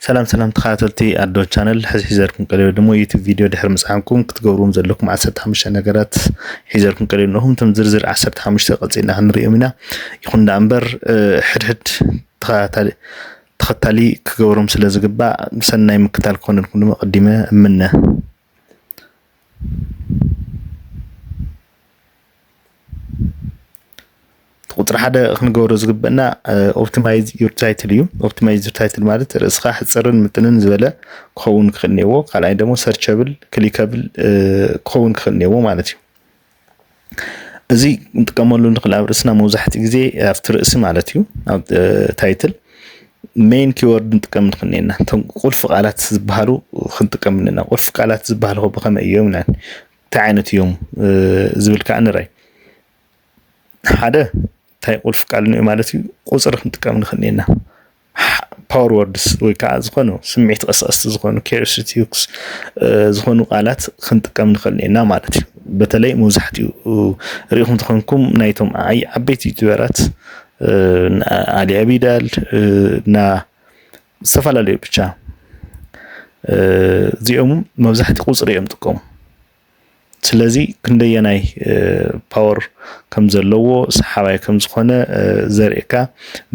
ሰላም ሰላም ተኸታተልቲ ኣዶ ቻነል ሕዚ ሒዘልኩም ቀሪበ ድሞ ዩቱብ ቪድዮ ድሕሪ ምጽዓንኩም ክትገብርዎም ዘለኩም ዓሰርተ ሓሙሽተ ነገራት ሒዘልኩም ቀሪበ ኣለኹም እቶም ዝርዝር ዓሰርተ ሓሙሽተ ቀጺልና ክንርእዮም ኢና ይኹን ደኣ እምበር ሕድሕድ ተኸታሊ ክገብሮም ስለ ዝግባእ ሰናይ ምክታል ክኾነልኩም ድማ ቀዲመ እምነ ቁፅሪ ሓደ ክንገብሮ ዝግበና ኦፕቲማይዝ ዩር ታይትል እዩ። ኦፕቲማይዝ ዩር ታይትል ማለት ርእስኻ ሕፅርን ምጥንን ዝበለ ክኸውን ክኽእል እኒዎ። ካልኣይ ደግሞ ሰርቸብል ክሊከብል ክኸውን ክኽእል እኒዎ ማለት እዩ። እዚ ንጥቀመሉ ንኽእል ኣብ ርእስና መብዛሕትኡ ግዜ ኣብቲ ርእሲ ማለት እዩ ኣብ ታይትል ሜን ኪወርድ ንጥቀም ንኽእል ኢና እቶም ቁልፊ ቃላት ዝበሃሉ ክንጥቀም ኣለና ቁልፊ ቃላት ዝበሃሉ ብኸመይ እዮም ኢልና እንታይ ዓይነት እዮም ዝብል ከዓ ንርኣይ ሓደ እንታይ ቁልፊ ቃል ማለት እዩ ቁፅሪ ክንጥቀም ንኽእል ኢና ፓወር ወርድስ ወይ ከዓ ዝኾኑ ስምዒት ቀስቀስቲ ዝኾኑ ኬርስቲክስ ዝኾኑ ቃላት ክንጥቀም ንኽእል ኢና ማለት እዩ በተለይ መብዛሕትኡ ሪኢኹም ተኾንኩም ናይቶም ዓይ ዓበይቲ ዩቱበራት ኣሊ ኣቢዳል እና ዝተፈላለዩ ብቻ እዚኦም መብዛሕቲ ቁፅሪ እዮም ጥቀሙ ስለዚ ክንደየናይ ፓወር ከም ዘለዎ ሰሓባይ ከም ዝኾነ ዘርእካ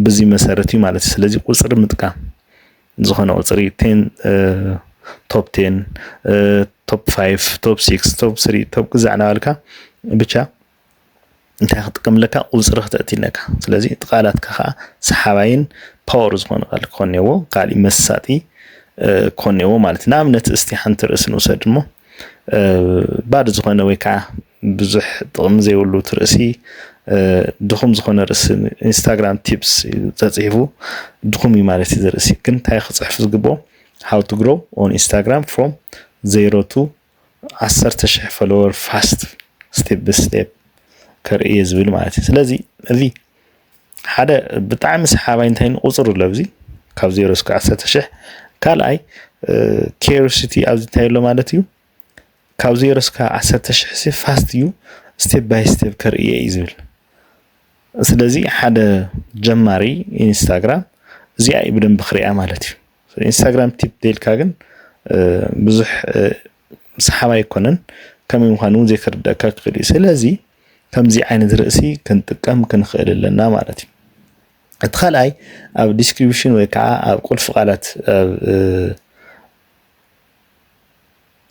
ብዚ መሰረት እዩ ማለት እዩ። ስለዚ ቁፅሪ ምጥቃም ዝኾነ ቁፅሪ ቴን ቶፕ ቴን ቶፕ ፋይቭ ቶፕ ሲክስ ቶፕ ስሪ ቶፕ ግዛዕ እናበልካ ብቻ እንታይ ክትጥቀም ኣለካ ቁፅሪ ክተእቲ ኣለካ ስለዚ እቲ ቃላትካ ከዓ ሰሓባይን ፓወር ዝኾነ ቃል ክኾን እኔዎ ካሊእ መሳጢ ክኾን እኔዎ ማለት እዩ ንኣብነት እስቲ ሓንቲ ርእሲ ንውሰድ እሞ ባዶ ዝኾነ ወይ ከዓ ብዙሕ ጥቕሚ ዘይብሉ እቲ ርእሲ ድኹም ዝኾነ ርእሲ ኢንስታግራም ቲፕስ ተፅሒፉ ድኹም እዩ ማለት እዩ ዝርእሲ ግን እንታይ ክፅሕፍ ዝግብኦ ሃው ቱ ግሮው ኦን ኢንስታግራም ፍሮም ዜሮ ቱ ዓሰርተ ሽሕ ፎሎወር ፋስት ስቴፕ ብ ስቴፕ ከርኢ እየ ዝብል ማለት እዩ ስለዚ እዚ ሓደ ብጣዕሚ ሰሓባይ እንታይ ንቁፅር ኣሎ ኣብዚ ካብ ዜሮ እስከ ዓሰርተ ሽሕ ካልኣይ ኬሪሲቲ ኣብዚ እንታይ ኣሎ ማለት እዩ ካብ ዜሮ እስከ ዓሰርተ ሽሕ ሲ ፋስት እዩ ስቴፕ ባይ ስቴፕ ከርእየ እዩ ዝብል ስለዚ ሓደ ጀማሪ ኢንስታግራም እዚኣ እዩ ብደንብ ክሪኣ ማለት እዩ ኢንስታግራም ቲፕ ደልካ ግን ብዙሕ ሰሓብ ኣይኮነን ከመይ ምዃኑ እውን ዘይክርደካ ክኽእል እዩ ስለዚ ከምዚ ዓይነት ርእሲ ክንጥቀም ክንኽእል ኣለና ማለት እዩ እቲ ካልኣይ ኣብ ዲስክሪፕሽን ወይ ከዓ ኣብ ቁልፊ ቃላት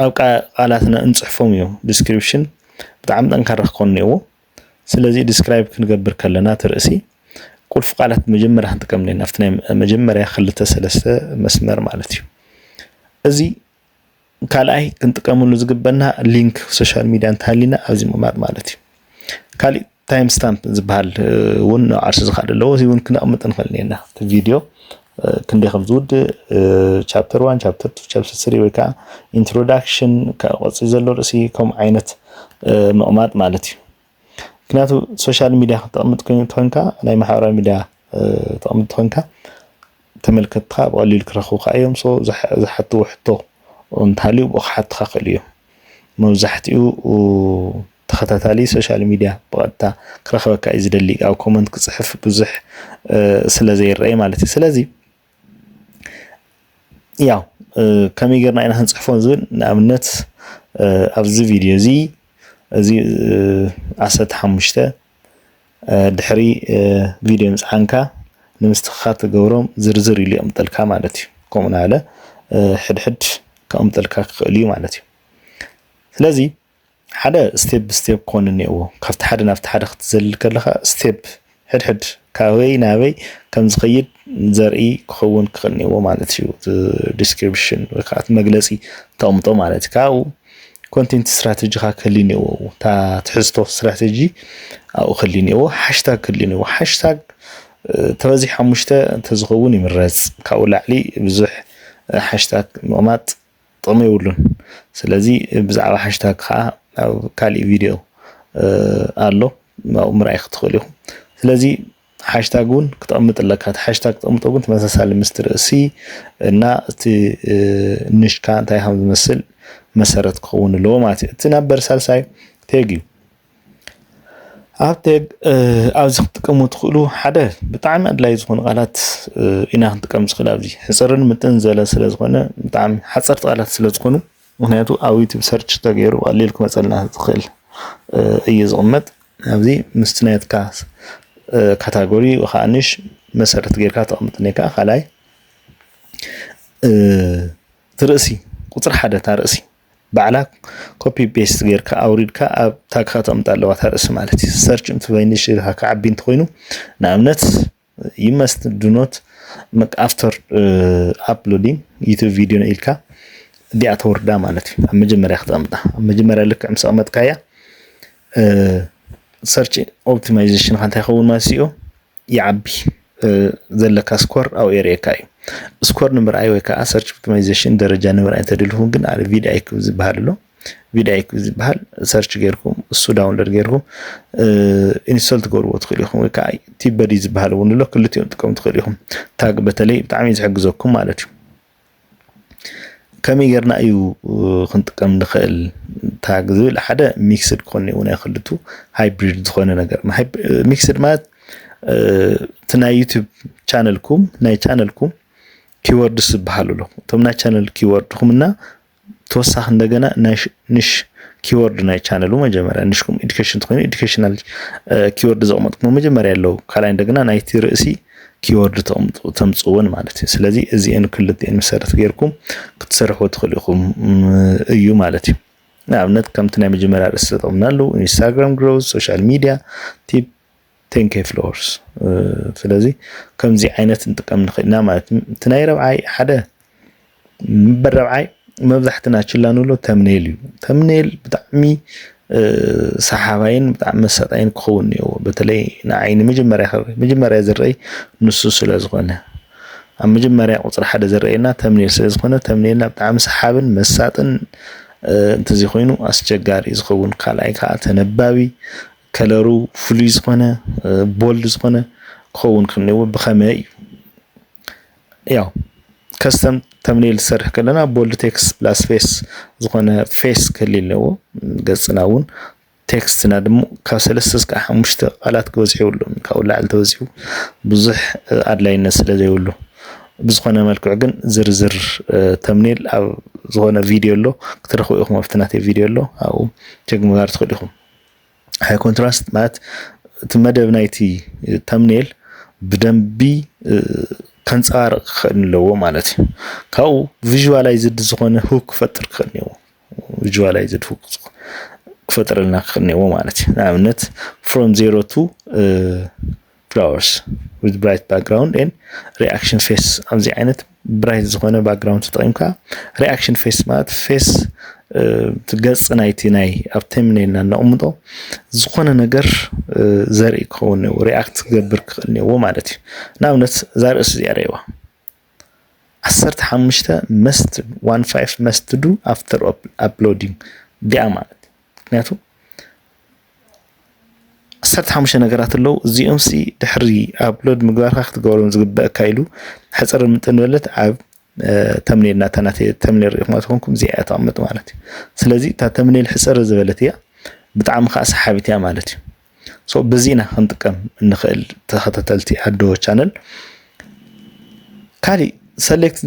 ኣብ ቃላትና እንፅሕፎም እዮም ዲስክሪፕሽን ብጣዕሚ ጠንካራ ክኾን እኒኦዎ ስለዚ ዲስክራይብ ክንገብር ከለና እቲ ርእሲ ቁልፊ ቃላት መጀመርያ ክንጥቀም ኣለና ኣብቲ ናይ መጀመርያ ክልተ ሰለስተ መስመር ማለት እዩ እዚ ካልኣይ ክንጥቀመሉ ዝግበና ሊንክ ሶሻል ሚድያ እንተሃሊና ኣብዚ ምቕማጥ ማለት እዩ ካሊእ ታይም ስታምፕ ዝበሃል እውን ዓርሱ ዝካድ ኣለዎ እዚ እውን ክነቕምጥ ንኽእል ኔና እቲ ቪድዮ ክንደይ ከም ዝውድእ ቻፕተር ዋን ቻፕተር ቱ ቻፕተር ስሪ ወይ ከዓ ኢንትሮዳክሽን ካብ ቆፅሪ ዘሎ ርእሲ ከምኡ ዓይነት ምቕማጥ ማለት እዩ ምክንያቱ ሶሻል ሚዲያ ክተቕምጥ ትኾንካ ናይ ማሕበራዊ ሚዲያ ተቕምጥ ትኾንካ ተመልከትካ ብቐሊሉ ክረኽቡካ እዮም ዝሓትዎ ሕቶ እንተሃልዩ ብኡ ክሓትካ ክእሉ እዮም መብዛሕትኡ ተኸታታሊ ሶሻል ሚድያ ብቐጥታ ክረኽበካ እዩ ዝደሊ ኣብ ኮመንት ክፅሕፍ ብዙሕ ስለ ዘይረኣይ ማለት እዩ ስለዚ ያው ከመይ ጌርና ኢና ክንፅሕፎ ዝብል ንኣብነት ኣብዚ ቪድዮ እዚ እዚ ዓሰርተ ሓሙሽተ ድሕሪ ቪድዮ ምጽዓንካ ንምስትኽኻል ትገብሮም ዝርዝር ኢሉ የቕምጠልካ ማለት እዩ ከምኡ ናለ ሕድሕድ ከቕምጠልካ ክኽእል እዩ ማለት እዩ ስለዚ ሓደ ስቴፕ ብስቴፕ ክኾን እኒኦዎ ካብቲ ሓደ ናብቲ ሓደ ክትዘልል ከለኻ ስቴፕ ሕድሕድ ካበይ ናበይ ከም ዝኸይድ ዘርኢ ክኸውን ክኽእል ኔዎ ማለት እዩ እቲ ዲስክሪፕሽን ወይ ከዓ እቲ መግለፂ ተቕምጦ ማለት እዩ ካብኡ ኮንቴንት ስትራቴጂኻ ክህሊ ኔዎ እታ ትሕዝቶ ስትራቴጂ ኣብኡ ክህሊ ኔዎ ሓሽታግ ክህሊ ኔዎ ሓሽታግ ተበዚሕ ሓሙሽተ እንተዝኸውን ይምረፅ ካብኡ ላዕሊ ብዙሕ ሓሽታግ ምቕማጥ ጥቕሚ የብሉን ስለዚ ብዛዕባ ሓሽታግ ከዓ ኣብ ካሊእ ቪድዮ ኣሎ ኣብኡ ምርኣይ ክትኽእሉ ኢኹም ስለዚ ሓሽታግ እውን ክተቕምጥ ኣለካ እቲ ሓሽታግ ክተቕምጦ ግን ተመሳሳሊ ምስቲ ርእሲ እና እቲ ንሽካ እንታይ ከም ዝመስል መሰረት ክኸውን ኣለዎ ማለት እዩ እቲ ናብ በርሳልሳይ ቴግ እዩ ኣብ ቴግ ኣብዚ ክትጥቀሙ ትኽእሉ ሓደ ብጣዕሚ ኣድላይ ዝኾኑ ቃላት ኢና ክንጥቀም ዝኽእል ኣብዚ ሕፅርን ምጥን ዘለ ስለ ዝኾነ ብጣዕሚ ሓፀርቲ ቃላት ስለ ዝኾኑ ምክንያቱ ኣብ ዩቱብ ሰርች ተገይሩ ቀሊል ክመፀልና ዝኽእል እዩ ዝቕመጥ ኣብዚ ምስቲ ናትካ ካታጎሪ ከዓ ንሽ መሰረት ጌርካ ተቕምጥ ኔካ ካልኣይ እቲ ርእሲ ቁፅሪ ሓደ እታ ርእሲ ባዕላ ኮፒ ቤስት ጌርካ ኣውሪድካ ኣብ ታግካ ተቕምጣ ኣለዋ እታ ርእሲ ማለት እዩ ሰርች እንትበይንሽ ኢልካ ክዓቢ እንተኮይኑ ንኣብነት ዩ መስት ዱ ኖት መክ ኣፍተር ኣፕሎዲንግ ዩቱብ ቪድዮ ኢልካ እዲኣ ተወርዳ ማለት እዩ ኣብ መጀመርያ ክተቕምጣ ኣብ መጀመርያ ልክዕ ምስ ኣቕመጥካያ ሰርች ኦፕቲማይዜሽንካ እንታይ ይኸውን ማለት እዩ ይዓቢ ዘለካ ስኮር ኣብኡ የርእየካ እዩ ስኮር ንምርኣይ ወይ ከዓ ሰርች ኦፕቲማይዜሽን ደረጃ ንምርኣይ እንተደሊኹም ግን ኣብ ቪድኣይክ ዝበሃል ኣሎ ቪዳይክ ዝበሃል ሰርች ጌርኩም እሱ ዳውንሎድ ጌርኩም ኢንስቶል ትገብርዎ ትኽእሉ ኢኹም ወይ ከዓ ቲበዲ ዝበሃል እውን ኣሎ ክልቲኦም ጥቀም ትኽእሉ ኢኹም ታግ በተለይ ብጣዕሚ ዝሕግዘኩም ማለት እዩ ከመይ ጌርና እዩ ክንጥቀም ንኽእል ታግ ዝብል ሓደ ሚክስድ ክኾን እውን ኣይክልቱ ሃይብሪድ ዝኾነ ነገር ሚክስድ ማለት እቲ ናይ ዩቱብ ቻነልኩም ናይ ቻነልኩም ኪወርድስ ዝበሃሉ ኣሎ እቶም ናይ ቻነል ኪወርድኹምና ተወሳኺ እንደገና ንሽ ኪወርድ ናይ ቻነሉ መጀመርያ ንሽኩም ኤዱኬሽን ትኮይኑ ኤዱኬሽናል ኪወርድ ዘቕመጥኩሞ መጀመርያ ኣለዉ ካልኣይ እንደገና ናይቲ ርእሲ ኪወርድ ተምፅእዎን ማለት እዩ ስለዚ እዚአን ክልቲኤን መሰረት ጌርኩም ክትሰርሑ ትኽእሉ ኢኹም እዩ ማለት እዩ ንኣብነት ከምቲ ናይ መጀመርያ ርእሲ ተጠቕምና ኣለዉ ኢንስታግራም ግሮዝ ሶሻል ሚድያ ቲፕ ቴንኬ ፍሎርስ ስለዚ ከምዚ ዓይነት ንጥቀም ንኽእል ኢና ማለት እዩ እቲ ናይ ረብዓይ ሓደ ምበር ረብዓይ መብዛሕትና ችላ ንብሎ ተምኔል እዩ ተምኔል ብጣዕሚ ሰሓባይን ብጣዕሚ መሳጣይን ክኸውን እኒኦዎ በተለይ ንዓይ ንመጀመርያ መጀመርያ ዝረአይ ንሱ ስለ ዝኾነ ኣብ መጀመርያ ቁፅሪ ሓደ ዝረአየና ተምኔል ስለ ዝኾነ ተምኔልና ብጣዕሚ ሰሓብን መሳጥን እንተዘይኮይኑ ኣስቸጋሪ ዝኸውን ካልኣይ ከዓ ተነባቢ ከለሩ ፍሉይ ዝኾነ ቦልድ ዝኾነ ክኸውን ክንዎ ብኸመይ እዩ ያው ከስተም ተምኔል ዝሰርሕ ከለና ቦልድ ቴክስት ፕላስ ፌስ ዝኾነ ፌስ ክህል ኣለዎ ገጽና እውን ቴክስትና ድሞ ካብ ሰለስተ እስካዕ ሓሙሽተ ቃላት ክበዝሑ የብሉን ካብኡ ላዕሊ ተበዚሑ ብዙሕ ኣድላይነት ስለ ዘይብሉ ብዝኾነ መልክዑ ግን ዝርዝር ተምኔል ኣብ ዝኾነ ቪድዮ ኣሎ ክትረኽቡ ኢኹም ኣብቲ ናተይ ቪድዮ ኣሎ ኣብኡ ቸክ ምግባር ትኽእሉ ኢኹም ሃይ ኮንትራስት ማለት እቲ መደብ ናይቲ ተምኔል ብደንቢ ከንፀባርቕ ክኽእል ኣለዎ ማለት እዩ ካብኡ ቪዥዋላይዝድ ዝኾነ ሁክ ክፈጥር ክኽእል እኒዎ ቪዥዋላይዝድ ሁክ ክፈጥረልና ክኽእል እኒዎ ማለት እዩ ንኣብነት ፍሮም ዜሮ ቱ ፍላወርስ ዊዝ ብራይት ባክግራውንድ ኤን ሪኣክሽን ፌስ ኣብዚ ዓይነት ብራይት ዝኾነ ባክግራውንድ ተጠቂምካ ሪኣክሽን ፌስ ማለት ፌስ ገጽ ናይቲ ናይ ኣብ ተምኔልና እነቕምጦ ዝኾነ ነገር ዘርኢ ክኸውን እኒዎ ሪኣክት ክገብር ክኽእል እኒዎ ማለት እዩ ንኣብነት እዛ ርእሲ እዚኣ ረእዋ ዓሰርተ ሓሙሽተ መስት ዋን ፋይቭ መስት ዱ ኣፍተር ኣፕሎዲንግ ዲኣ ማለት ምክንያቱ ዓሰርተ ሓሙሽተ ነገራት ኣለዉ እዚኦም ሲ ድሕሪ ኣፕሎድ ምግባርካ ክትገብሮም ዝግበአካ ኢሉ ሕፅር ምጥን በለት ኣብ ተምኔል ናታ ናተ ተምኔል ሪኢኹማ ትኾንኩም እዚኣ እያ ተቐምጥ ማለት እዩ ስለዚ እታ ተምኔል ሕፅር ዝበለት እያ ብጣዕሚ ከዓ ሰሓቢት እያ ማለት እዩ ሶ በዚ ኢና ክንጥቀም እንኽእል ተኸታተልቲ ኣዶ ቻነል ካሊእ ሰሌክት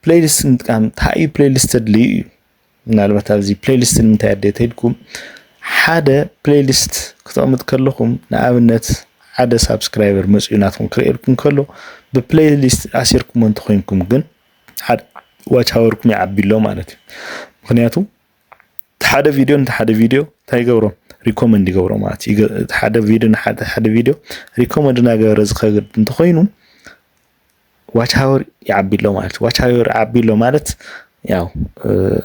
ፕሌሊስት ምጥቃም ተሓእዩ ፕሌሊስት ተድልዩ እዩ ምናልባት ኣብዚ ፕሌሊስት ንምንታይ ኣደ ተድኩም ሓደ ፕሌሊስት ክተቕምጥ ከለኹም ንኣብነት ሓደ ሳብስክራይበር መፅኡ ናትኩም ክርእየልኩም ከሎ ብፕሌሊስት ኣሲርኩሞ እንተኮይንኩም ግን ዋች ሃወርኩም ይዓቢ ኣሎ ማለት እዩ ምክንያቱ ሓደ ቪድዮ ነቲ ሓደ ቪድዮ እንታይ ይገብሮ ሪኮመንድ ይገብሮ ማለት እዩ ሓደ ቪድዮ ንሓደ ሓደ ቪድዮ ሪኮመንድ እናገበረ ዝኸግድ እንተኮይኑ ዋች ሃወር ይዓቢ ኣሎ ማለት ዋች ሃወር ዓቢ ኣሎ ማለት ያው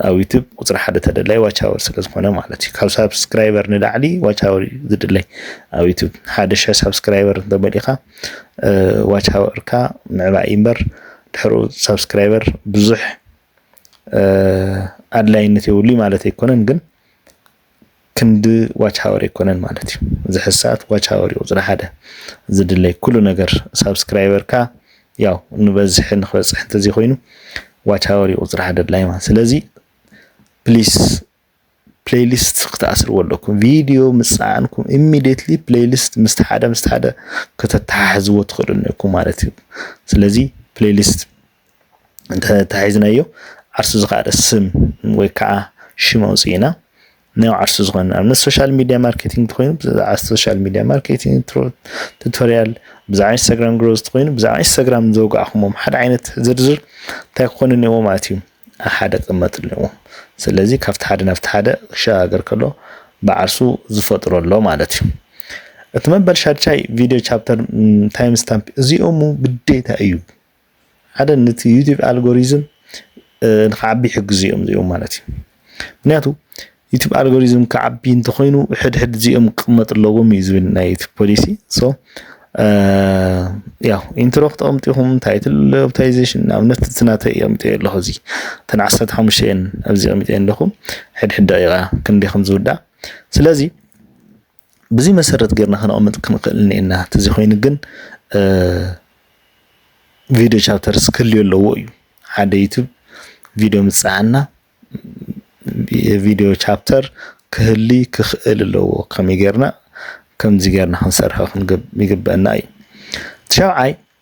ኣብ ዩቱብ ቁፅሪ ሓደ ተደላይ ዋች ኣወር ስለ ዝኾነ ማለት እዩ ካብ ሳብስክራይበር ንላዕሊ ዋች ኣወር እዩ ዝድለይ ኣብ ዩቱብ ሓደ ሸ ሳብስክራይበር እንተመሊእኻ ዋች ኣወርካ ምዕባይ እምበር ድሕሩ ሳብስክራይበር ብዙሕ ኣድላይነት የብሉ ማለት ኣይኮነን ግን ክንዲ ዋች ሃወር ኣይኮነን ማለት እዩ ዝሕዝ ሰዓት ዋች ሃወር እዩ ቁፅሪ ሓደ ዝድለይ ኩሉ ነገር ሳብስክራይበርካ ያው ንበዝሒ ንክበፅሕ እንተዘይ ኮይኑ ዋች ሃወር እዩ ቁፅሪ ሓደ ድላይ ማለት ስለዚ ፕሊስ ፕሌይሊስት ክትኣስርዎ ኣለኩም ቪድዮ ምፅዓንኩም ኢሚዲየትሊ ፕሌይሊስት ምስቲ ሓደ ምስቲ ሓደ ከተተሓሕዝዎ ትኽእሉ ኣለኩም ማለት እዩ ስለዚ ፕሌይሊስት እንተተሒዝናዮ ዓርሱ ዝኸኣለ ስም ወይ ከዓ ሽም ኣውፅእና ናይ ዓርሱ ዝኾነ ንኣብነት ሶሻል ሚዲያ ማርኬቲንግ እንተኮይኑ ብዛዕባ ሶሻል ሚዲያ ማርኬቲንግ ቱቶሪያል ብዛዕባ ኢንስታግራም ግሮዝ እንተኮይኑ ብዛዕባ ኢንስታግራም ዘውጋዕኹሞም ሓደ ዓይነት ዝርዝር እንታይ ክኾኑ እኒዎ ማለት እዩ ኣብ ሓደ ክቕመጡ እኒዎ ስለዚ ካብቲ ሓደ ናብቲ ሓደ ክሸጋገር ከሎ ብዓርሱ ዝፈጥሮ ኣሎ ማለት እዩ እቲ መበል ሻድሻይ ቪድዮ ቻፕተር ታይም ስታምፕ እዚኦሙ ግዴታ እዩ ሓደ ነቲ ዩቲብ ኣልጎሪዝም ንክዓቢ ይሕግዙ እዮም እዚኦም ማለት እዩ ምክንያቱ ዩቲብ ኣልጎሪዝም ክዓቢ እንተኮይኑ ሕድሕድ እዚኦም ክቅመጡ ኣለዎም እዩ ዝብል ናይ ዩቲብ ፖሊሲ ሶ ያው ኢንትሮ ክተቀምጢኹም ታይትል ኦፕታይዜሽን ንኣብነት እቲ ናተይ የምጥዮ ኣለኹ እዚ እተን ዓሰርተ ሓሙሽተ እየን ኣብዚ ቀሚጠ ኣለኹ ሕድሕድ ደቂቃ ክንደይ ከም ዝውዳእ ስለዚ ብዙይ መሰረት ገርና ከነቐምጥ ክንኽእል እኔና ተዚ ኮይኑ ግን ቪድዮ ቻፕተርስ ክልዮ ኣለዎ እዩ ሓደ ዩቱብ ቪድዮ ምፅዓና የቪድዮ ቻፕተር ክህሊ ክኽእል ኣለዎ ከመይ ገርና ከምዚ ገርና ክንሰርሖ ይግበአና እዩ ትሸብዓይ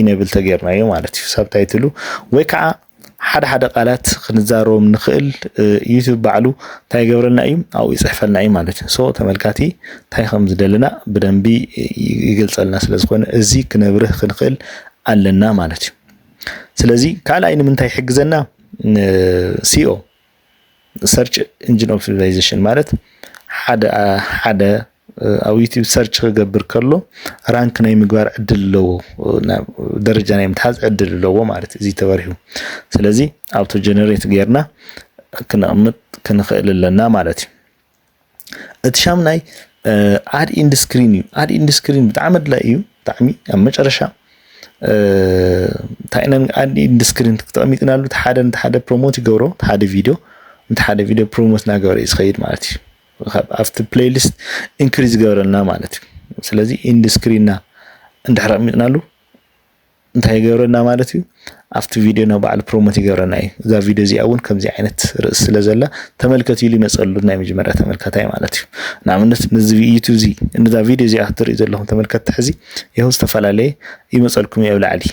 ኢነብል ተገይርናዮ ማለት እዩ ሳብ ታይትሉ ወይ ከዓ ሓደ ሓደ ቃላት ክንዛረቦም ንኽእል ዩቱብ ባዕሉ እንታይ ይገብረልና እዩ ኣብኡ ይፅሕፈልና እዩ ማለት እዩ ሶ ተመልካቲ እንታይ ከም ዝደለና ብደንቢ ይገልፀልና ስለ ዝኾነ እዚ ክነብርህ ክንኽእል ኣለና ማለት እዩ ስለዚ ካልኣይ ንምንታይ ይሕግዘና ሲኦ ሰርች ኢንጂን ኦፕቲማይዜሽን ማለት ሓደ ሓደ ኣብ ዩቲብ ሰርች ክገብር ከሎ ራንክ ናይ ምግባር ዕድል ኣለዎ ደረጃ ናይ ምትሓዝ ዕድል ኣለዎ ማለት እዩ እዚ ተበሪሁ ስለዚ ኣብቶ ጀነሬት ጌርና ክነቕምጥ ክንኽእል ኣለና ማለት እዩ እቲ ሻምናይ ኣድ ኢንድ ስክሪን እዩ ኣድ ኢንድ ስክሪን ብጣዕሚ ኣድላይ እዩ ብጣዕሚ ኣብ መጨረሻ እንታይ ኢና ኣድ ኢንድ ስክሪን ተቐሚጥናሉ እቲ ሓደ ነቲ ሓደ ፕሮሞት ይገብሮ እቲ ሓደ ቪድዮ ነቲ ሓደ ቪድዮ ፕሮሞት እናገበረ እዩ ዝኸይድ ማለት እዩ ኣብቲ ፕሌይሊስት ኢንክሪዝ ዝገበረልና ማለት እዩ ስለዚ ኢንድ ስክሪንና እንድሕር ኣቕሚጥናሉ እንታይ ይገብረና ማለት እዩ ኣብቲ ቪድዮ ናብ ባዕሉ ፕሮሞት ይገብረና እዩ እዛ ቪድዮ እዚኣ እውን ከምዚ ዓይነት ርእሲ ስለ ዘላ ተመልከት ኢሉ ይመፀሉ ናይ መጀመርያ ተመልካታይ ማለት እዩ ንኣብነት ነዚ ዩቱብ እዚ እዛ ቪድዮ እዚኣ ክትሪኡ ዘለኹም ተመልከትቲ ሕዚ ይኸው ዝተፈላለየ ይመፀልኩም እዩ ኣብ ላዕሊ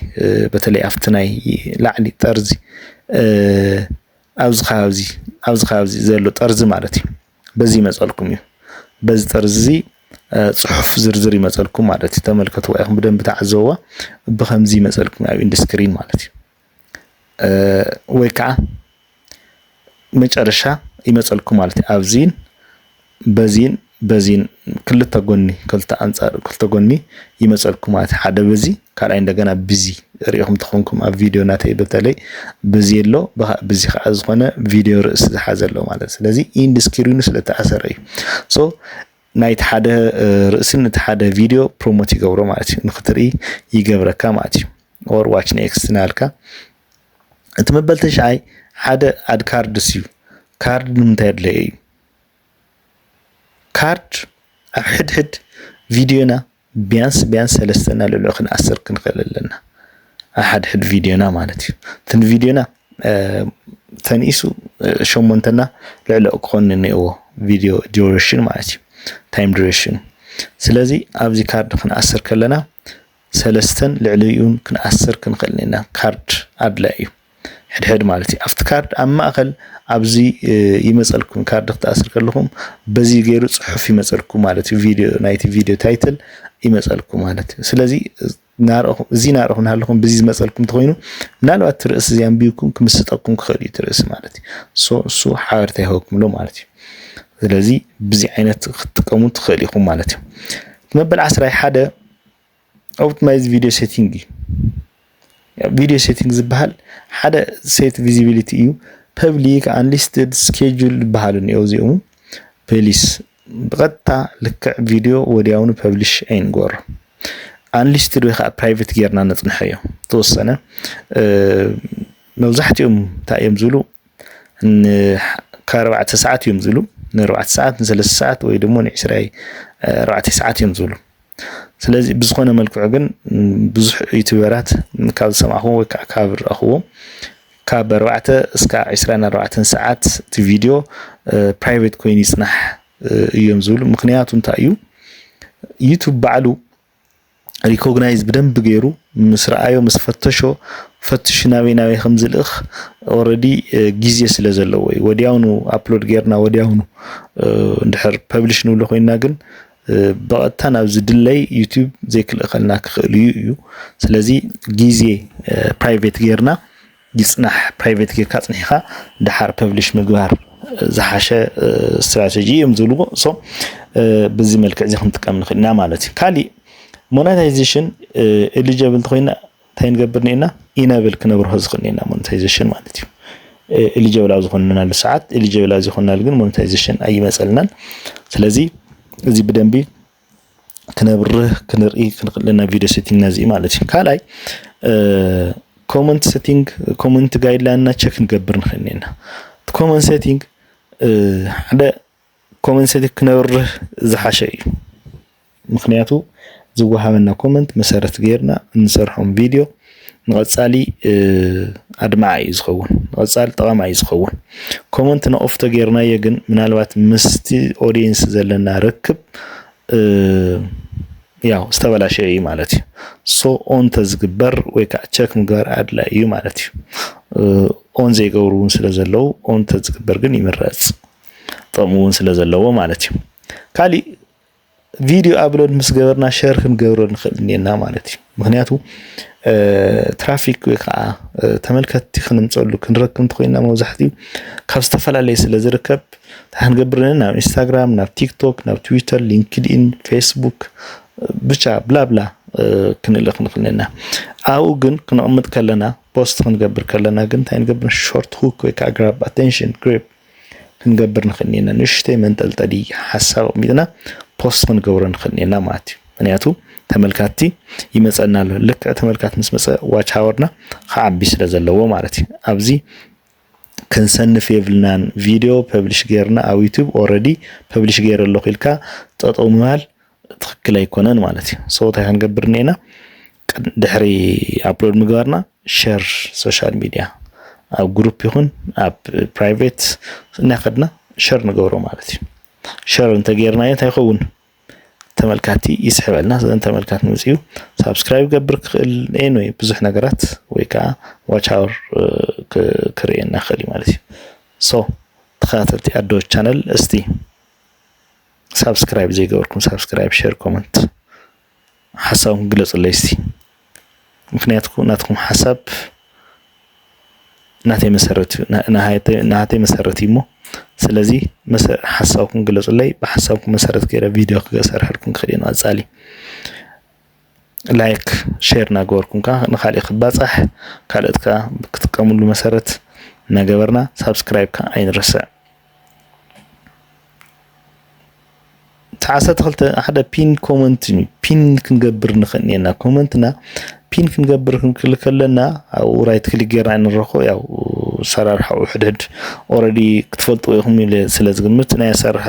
በተለይ ኣብቲ ናይ ላዕሊ ጠርዚ ኣብዚ ከባቢ ኣብዚ ከባቢ ዘሎ ጠርዚ ማለት እዩ በዚ ይመጸልኩም እዩ በዚ ጠርዚ እዚ ጽሑፍ ዝርዝር ይመጸልኩም ማለት እዩ ተመልከትዋ ኢኹም ብደንብ ተዓዘብዋ ብከምዚ ይመጸልኩም ኣብ ኢንዱስክሪን ማለት እዩ ወይ ከዓ መጨረሻ ይመጸልኩም ማለት እዩ ኣብዚን በዚን በዚን ክልተ ጎኒ ክልተ ኣንጻር ክልተ ጎኒ ይመጸልኩም ማለት ሓደ በዚ ካልኣይ እንደገና ብዚ ሪኢኹም ተኾንኩም ኣብ ቪድዮ ናተይ በተለይ ብዚ ኣሎ ብዚ ከዓ ዝኾነ ቪድዮ ርእሲ ዝሓዘ ኣሎ ማለት ስለዚ ኢንድ ስክሪኑ ስለተኣሰረ እዩ ሶ ናይቲ ሓደ ርእሲ ነቲ ሓደ ቪድዮ ፕሮሞት ይገብሮ ማለት እዩ ንክትርኢ ይገብረካ ማለት እዩ ኦር ዋች ኔክስት ናልካ እቲ መበል ተሽዓይ ሓደ ኣድ ካርድስ እዩ ካርድ ንምንታይ ኣድለየ እዩ ካርድ ኣብ ሕድሕድ ቪድዮና ቢያንስ ቢያንስ ሰለስተ እና ልዕሊኡ ክንኣስር ክንክእል ኣለና ኣብ ሓድሕድ ቪድዮና ማለት እዩ እቲ ንቪድዮና ተንኢሱ ሸሞንተና ልዕሊኡ ክኾን እኒኦዎ ቪድዮ ዲሬሽን ማለት እዩ ታይም ዲሬሽን ስለዚ ኣብዚ ካርድ ክንኣስር ከለና ሰለስተን ልዕሊኡን ክንኣስር ክንክእል ኢና ካርድ ኣድላይ እዩ ሕድሕድ ማለት እዩ ኣብቲ ካርድ ኣብ ማእኸል ኣብዚ ይመፀልኩም ካርድ ክትኣስር ከለኹም በዚ ገይሩ ፅሑፍ ይመፀልኩ ማለት እዩ ቪድዮ ናይቲ ቪድዮ ታይትል ይመፀልኩ ማለት እዩ ስለዚ እዚ ናርኹም ናሃለኹም ብዚ ዝመፀልኩም ተኮይኑ ምናልባት ትርእሲ እዚ ኣንቢብኩም ክምስጠኩም ክኽእል እዩ ትርእሲ ማለት እዩ ሶ እሱ ሓበርታ ይህበኩምሎ ማለት እዩ ስለዚ ብዚ ዓይነት ክትጥቀሙ ትኽእል ኢኹም ማለት እዩ መበል ዓስራይ ሓደ ኦፕቲማይዝ ቪድዮ ሴቲንግ እዩ ቪድዮ ሴቲንግ ዝበሃል ሓደ ሴት ቪዚቢሊቲ እዩ ፐብሊክ ኣንሊስትድ ስኬጁል ዝበሃሉ እኒኦ እዚኦም ፐሊስ ብቐጥታ ልክዕ ቪድዮ ወዲያውኑ ፐብሊሽ ኣይንገሮ ኣንሊስትድ ወይ ከዓ ፕራይቬት ጌርና ነፅንሖ እዮ ተወሰነ መብዛሕትኦም እንታይ እዮም ዝብሉ ከኣርባዕተ ሰዓት እዮም ዝብሉ ንኣርባዕተ ሰዓት ንሰለስተ ሰዓት ወይ ድማ ንዕስራይ ኣርባዕተ ሰዓት እዮም ዝብሉ ስለዚ ብዝኾነ መልክዑ ግን ብዙሕ ዩቱበራት ካብ ዝሰማዕኹዎ ወይ ከዓ ካብ ዝረኣኹዎ ካብ ኣርባዕተ እስካብ ዕስራን ኣርባዕተን ሰዓት እቲ ቪድዮ ፕራይቬት ኮይኑ ይፅናሕ እዮም ዝብሉ። ምክንያቱ እንታይ እዩ ዩቱብ ባዕሉ ሪኮግናይዝ ብደንብ ገይሩ ምስ ረኣዮ ምስ ፈተሾ ፈትሹ ናበይ ናበይ ከም ዝልእኽ ኦልሬዲ ግዜ ስለ ዘለዎ እዩ። ወዲያውኑ ኣፕሎድ ጌርና ወዲያውኑ እንድሕር ፐብሊሽ ንብሎ ኮይና ግን ብቐጥታ ናብ ዝድለይ ዩቲዩብ ዘይክልእኸልና ክኽእል እዩ እዩ ስለዚ ግዜ ፕራይቬት ጌርና ይጽናሕ ፕራይቬት ጌርካ ጽኒሕኻ ድሓር ፐብሊሽ ምግባር ዝሓሸ ስትራቴጂ እዮም ዝብልዎ ሶ ብዚ መልክዕ እዚ ክንጥቀም ንኽእል ኢና ማለት እዩ ካሊእ ሞናታይዜሽን ኤሊጀብል እንተኮይና እንታይ ንገብር ኔና ኢነብል ክነብርሆ ዝኽእል ኔና ሞኔታይዜሽን ማለት እዩ ኤሊጀብል ኣብ ዝኾንናሉ ሰዓት ኤሊጀብል ኣብ ዘይኮንናሉ ግን ሞኔታይዜሽን ኣይመፀልናን ስለዚ እዚ ብደንቢ ክነብርህ ክንርኢ ክንክእለና ቪድዮ ሴቲንግና እዚ ማለት እዩ ካልኣይ ኮመንት ሴቲንግ ኮመንት ጋይድላይንና ቸክ ንገብር ንኽእል ኔና ኮመንት ሴቲንግ ሓደ ኮመን ሰቲ ክነብርህ ዝሓሸ እዩ ምክንያቱ ዝወሃበና ኮመንት መሰረት ገይርና እንሰርሖም ቪድዮ ንቐፃሊ ኣድማዓ እዩ ዝኸውን ንቐፃሊ ጠቐማ እዩ ዝኸውን ኮመንት ንኦፍ ተገይርናዮ ግን ምናልባት ምስቲ ኦዲየንስ ዘለና ርክብ ያው ዝተበላሸ እዩ ማለት እዩ ሶ ኦን ተዝግበር ወይ ከዓ ቸክ ምግባር ኣድላይ እዩ ማለት እዩ ኦን ዘይገብሩ እውን ስለ ዘለው ኦን ተዝግበር ግን ይምረፅ ጥቕሚ እውን ስለ ዘለዎ ማለት እዩ። ካሊእ ቪድዮ ኣብሎድ ምስ ገበርና ሸር ክንገብሮ ንኽእል እኔና ማለት እዩ። ምክንያቱ ትራፊክ ወይ ከዓ ተመልከትቲ ክንምፀሉ ክንረክብ እንተኮይና መብዛሕትኡ ካብ ዝተፈላለየ ስለ ዝርከብ እንታይ ክንገብር እኔና ናብ ኢንስታግራም፣ ናብ ቲክቶክ፣ ናብ ትዊተር፣ ሊንክድኢን፣ ፌስቡክ ብቻ ብላብላ ክንልእኽ ንኽእል እኔና። ኣብኡ ግን ክነቕምጥ ከለና ፖስት ክንገብር ከለና ግን እንታይ ንገብር ሾርት ሁክ ወይ ከዓ ግራብ ኣቴንሽን ግሪፕ ክንገብር ንኽእል እኒና ንእሽተይ መንጠልጠሊ ሓሳብ ኣቕሚጥና ፖስት ክንገብሮ ንኽእል እኒና ማለት እዩ ምክንያቱ ተመልካቲ ይመፀና ኣሎ ልክዕ ተመልካቲ ምስ መፀ ዋች ሃወርና ክዓቢ ስለ ዘለዎ ማለት እዩ ኣብዚ ክንሰንፍ የብልናን ቪድዮ ፐብሊሽ ገይርና ኣብ ዩቱብ ኦረዲ ፐብሊሽ ገይረ ኣለኹ ኢልካ ጠጠው ምባል ትክክል ኣይኮነን ማለት እዩ ሰው እንታይ ክንገብር እኒኤና ድሕሪ ኣፕሎድ ምግባርና ሸር ሶሻል ሚድያ ኣብ ግሩፕ ይኹን ኣብ ፕራይቬት እናኸድና ሸር ንገብሮ ማለት እዩ ሸር እንተጌርናዮ እንታይ ይኸውን ተመልካቲ ይስሕበልና ስለዚ ተመልካቲ ምፅኡ ሳብስክራይብ ገብር ክኽእል ኤን ወይ ብዙሕ ነገራት ወይ ከዓ ዋች ኣወር ክርእየና ክእል ማለት እዩ ሶ ተኸታተልቲ ኣዶ ቻነል እስቲ ሳብስክራይብ ዘይገበርኩም ሳብስክራይብ ሸር ኮመንት ሓሳብኩም ግለፁለይ እስቲ ምክንያቱ ናትኩም ሓሳብ ናተይ መሰረት እዩ ናተይ መሰረት እዩ እሞ ስለዚ ሓሳብኩም ግለፁለይ ብሓሳብኩም መሰረት ገይረ ቪድዮ ክሰርሐልኩም ክኽእል እዩ ንቐፃሊ ላይክ ሼር እናገበርኩም ከዓ ንካልእ ክባፃሕ ካልኦት ከዓ ክጥቀምሉ መሰረት እናገበርና ሳብስክራይብ ከዓ ኣይንረስዕ ዓሰርተ ክልተ ሓደ ፒን ኮመንት እዩ ፒን ክንገብር ንኽእል እኔና ኮመንትና ፒን ክንገብር ክንክል ከለና ኣብኡ ራይት ክሊክ ጌርና ንረኽቦ ያው ኣሰራርሓኡ ሕድሕድ ኦልሬዲ ክትፈልጥዎ ኢኹም ኢለ ስለ ዝግምት ናይ ኣሰራርሓ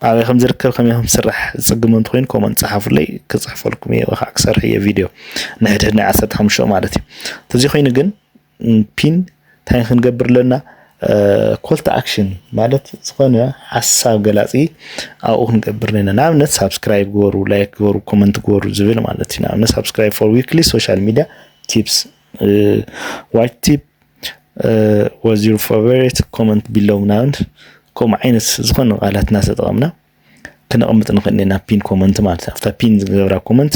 ኣበይ ከም ዝርከብ ከመይ ከም ዝስራሕ ዝጽግም እንተኮይኑ ኮመንት ጸሓፉለይ ክጽሕፈልኩም እየ ወይ ከዓ ክሰርሕ እየ ቪድዮ ንሕድሕድ ናይ ዓሰርተ ሓሙሽተ ማለት እዩ ተዘይ ኮይኑ ግን ፒን እንታይ ክንገብር ኣለና ኮልቲ ኣክሽን ማለት ዝኾነ ሓሳብ ገላፂ ኣብኡ ክንገብር ነና ንኣብነት ሳብስክራይብ ግበሩ ላይክ ግበሩ ኮመንት ግበሩ ዝብል ማለት እዩ ንኣብነት ሳብስክራይብ ፎር ዊክሊ ሶሻል ሚዲያ ቲፕስ ዋይት ቲፕ ዋዝ ዩር ፋቨሬት ኮመንት ቢሎው ናንድ ከምኡ ዓይነት ዝኾነ ቃላት እናተጠቐምና ክነቕምጥ ንኽእል ኢና ፒን ኮመንት ማለት ኣብታ ፒን ዝገብራ ኮመንት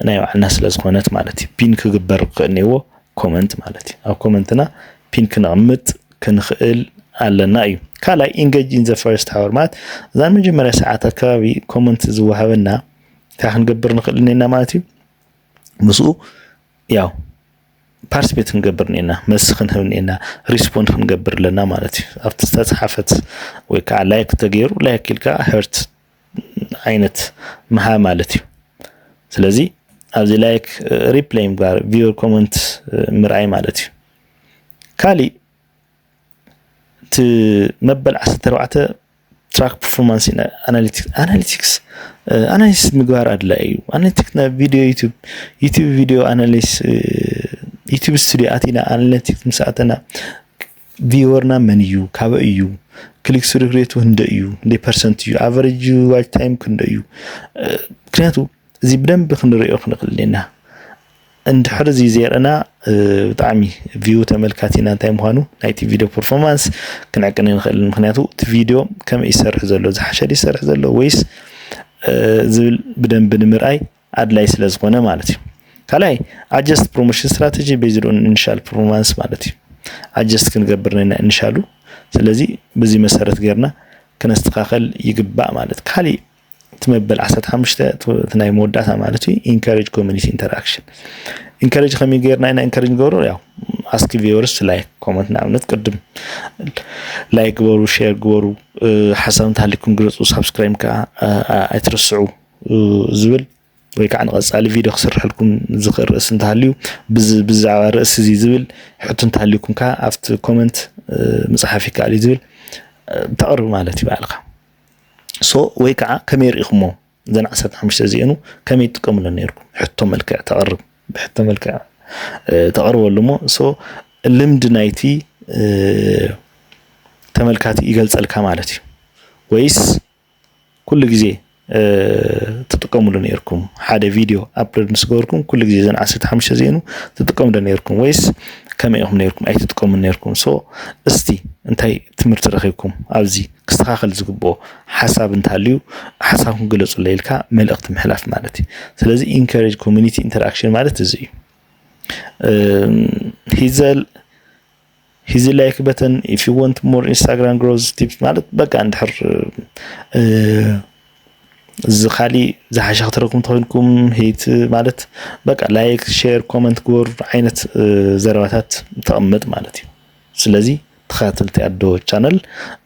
ናይ ባዕልና ስለ ዝኾነት ማለት እዩ ፒን ክግበር ክኽእል ነዎ ኮመንት ማለት እዩ ኣብ ኮመንትና ፒን ክነቕምጥ ክንኽእል ኣለና እዩ ካልኣይ ኢንጌጅ ኢን ዘ ፈርስት ሃወር ማለት እዛ መጀመርያ ሰዓት ኣከባቢ ኮመንት ዝወሃበና እንታይ ክንገብር ንኽእል ኢና ማለት እዩ ምስኡ ያው ፓርስፔት ክንገብር እኒኤና መልሲ ክንህብ እኒኤና ሪስፖንድ ክንገብር ኣለና ማለት እዩ ኣብቲ ዝተፅሓፈት ወይ ከዓ ላይክ ተገይሩ ላይክ ኢልካ ሄርት ዓይነት ምሃ ማለት እዩ ስለዚ ኣብዚ ላይክ ሪፕላይ ጋር ቪዮ ኮመንት ምርኣይ ማለት እዩ ካሊእ እቲ መበል ዓሰርተ ኣርባዕተ ትራክ ፐርፎርማንስ ኣናሊቲክስ ኣናሊቲክስ ኣናሊሲስ ምግባር ኣድላይ እዩ ኣናሊቲክስ ናብ ቪድዮ ዩቱብ ዩቱብ ቪድዮ ኣናሊስ ዩቱብ ስቱዲዮ ኣቲና ኣናሊቲክስ ምስ ኣተና ቪወርና መን እዩ ካበይ እዩ ክሊክ ስሩክ ሬቱ ክንደይ እዩ ክንደይ ፐርሰንት እዩ ኣቨሬጅ ዋች ታይም ክንደይ እዩ ምክንያቱ እዚ ብደንቢ ክንሪኦ ክንኽእል ኢና እንድሕር እዚ ዘርእና ብጣዕሚ ቪው ተመልካቲና እንታይ ምዃኑ ናይቲ ቪድዮ ፐርፎርማንስ ክንዕቅን ንኽእል ምክንያቱ እቲ ቪድዮ ከመይ ይሰርሕ ዘሎ ዝሓሸ ይሰርሕ ዘሎ ወይስ ዝብል ብደንቢ ንምርኣይ ኣድላይ ስለ ዝኾነ ማለት እዩ ካልኣይ ኣጀስት ፕሮሞሽን ስትራቴጂ ቤዝድ ኦን ኢኒሻል ፐርፎርማንስ ማለት እዩ ኣጀስት ክንገብር ነና ኢኒሻሉ ስለዚ በዚ መሰረት ገርና ክነስተኻኸል ይግባእ ማለት ካሊእ እቲ መበል ዓሰርተ ሓሙሽተ እቲ ናይ መወዳእታ ማለት እዩ ኢንካሬጅ ኮሚኒቲ ኢንተራክሽን ኢንካሬጅ ከመይ ገይርና ኢና ኢንካሬጅ ንገብሮ ያው ኣስኪ ቪወርስ ላይክ ኮመንት ንኣብነት ቅድም ላይክ ግበሩ ሼር ግበሩ ሓሳብ እንተሃሊኩም ግለፁ ሳብስክራይብ ከዓ ኣይትረስዑ ዝብል ወይ ከዓ ንቐፃሊ ቪድዮ ክስርሐልኩም ዝኽእል ርእሲ እንተሃልዩ ብዛዕባ ርእሲ እዚ ዝብል ሕቶ እንተሃልዩኩም ከዓ ኣብቲ ኮመንት ምፅሓፍ ይከኣል እዩ ዝብል ተቕርብ ማለት እዩ ባዕልካ ሶ ወይ ከዓ ከመይ ርኢኹሞ እዘን ዓሰርተ ሓሙሽተ እዚኤኑ ከመይ ትጥቀምለን ነርኩም ሕቶ መልክዕ ተቕርብ ብሕቶ መልክዕ ተቕርበሉ እሞ ሶ ልምዲ ናይቲ ተመልካቲ ይገልጸልካ ማለት እዩ ወይስ ኩሉ ግዜ ትጥቀምሉ ነርኩም ሓደ ቪድዮ ኣፕሎድ ምስ ገበርኩም ኩሉ ግዜ ዘን ዓሰርተ ሓሙሽተ እዚኤኑ ትጥቀምዶ ነርኩም ወይስ ከመይ ኢኹም ነርኩም ኣይትጥቀሙን ነርኩም ሶ እስቲ እንታይ ትምህርቲ ረኺብኩም ኣብዚ ክስተኻኸል ዝግብኦ ሓሳብ እንተሃልዩ ሓሳብኩም ግለፁለይ ኢልካ መልእኽቲ ምሕላፍ ማለት እዩ። ስለዚ ኢንካሬጅ ኮሚኒቲ ኢንተርኣክሽን ማለት እዚ እዩ። ሂዘል ሂዚ ላይክ በተን ኢፍ ዩ ወንት ሞር ኢንስታግራም ግሮዝ ቲፕስ ማለት በቃ እንድሕር እዚ ካሊእ ዝሓሸ ክትረኩም ተኮይንኩም ሂት ማለት በቃ ላይክ ሼር ኮመንት ግበር ዓይነት ዘረባታት ተቐምጥ ማለት እዩ። ስለዚ ተኸታተልቲ ኣዶ ቻነል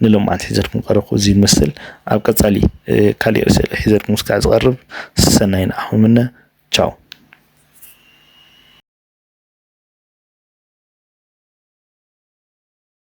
ንሎምዓንቲ ሒዘልኩም ቀረብኩ እዚ ይመስል ኣብ ቀጻሊ ካሊእ ርእሰ ሒዘልኩም ስካዕ ዝቐርብ ሰናይ ንዓኹም ምነ ቻው